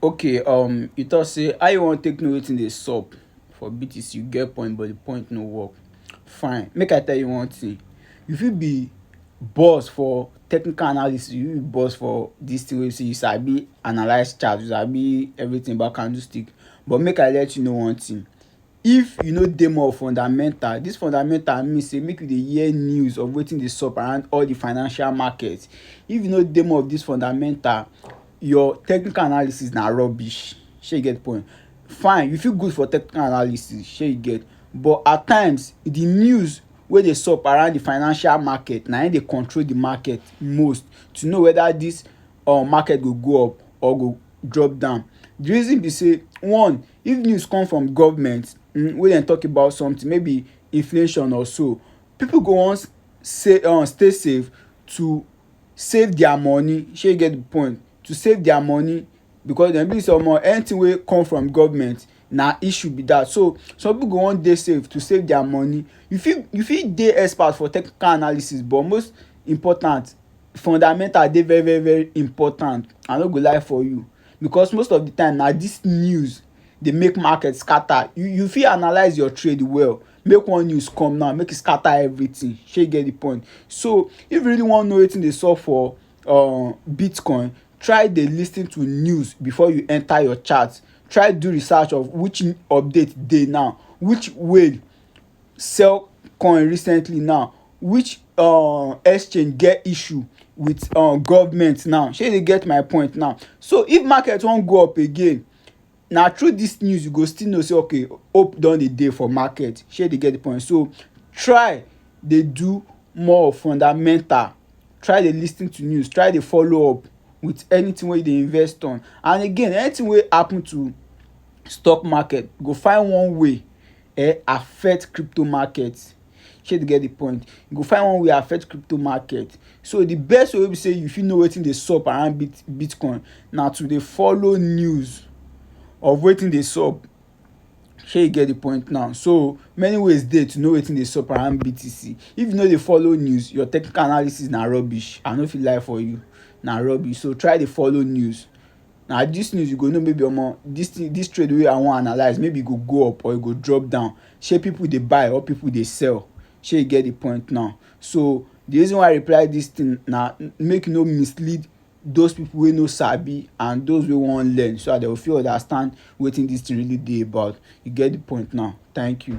Okay, um, you talk say how you wan take know wetin dey sup for BTC? You get point, but the point no work. Fine, make I tell you one thing. You fit be boss for technical analysis, you fit be boss for this thing wey be say you sabi analyse chart, you sabi everything about candlestick. But make I let you know one thing, If you no dey more fundamental, dis fundamental mean sey make you dey hear news of wetin dey sup around all de financial market. If you no dey more of dis fundamental, your technical analysis na rubbish. Shey you get de point? Fine, you fit good for technical analysis, shey you get? But at times, de news wey dey sup around de financial market na im dey control de market most to know whether dis um market go go up or go drop down. De reason be sey one If news come from government um wey dem talk about something maybe inflation or so, pipu go wan sey um stay safe to save their money. Shey you get the point? To save their money because dem believe sey omo anything wey come from government na issue be dat. So some pipu go wan dey safe to save their money. You fit you fit dey expert for technical analysis but most important fundamental dey very very very important. I no go lie for you. because most of the time na this news dey make market scatter you you fit analyse your trade well make one news come now make e scatter everything shey you get the point so if you really wan know wetin dey sup for um bitcoin try dey lis ten to news before you enter your chart try do research of which update dey now which whale sell coin recently now which um exchange get issue with um government now shey you dey get my point now so if market wan go up again na through this news you go still know say okay hope don dey dey for market shey you dey get the point so try dey do more of fundamental try dey lis ten to news try dey follow up with anything wey you dey invest on and again anything wey happen to stock market go find one way um affect crypto market shey you get de point you go find one wey affect crypto market so de best way wey be sey you fit know wetin dey sup around bitcoin na to dey follow news of wetin dey sup shey you get de point now so many ways dey to know wetin dey sup around BTC if you no dey follow news your technical analysis na rubbish I no fit lie for you na rubbish so try dey follow news. na this news you go know maybe omo this thing this trade wey I wan analyse maybe e go go up or e go drop down shey people dey buy or people dey sell shey you get the point now so the reason why I reply this thing na make you no mislead those people wey no sabi and those wey wan learn so that they go fit understand wetin this thing really dey about you get the point now thank you.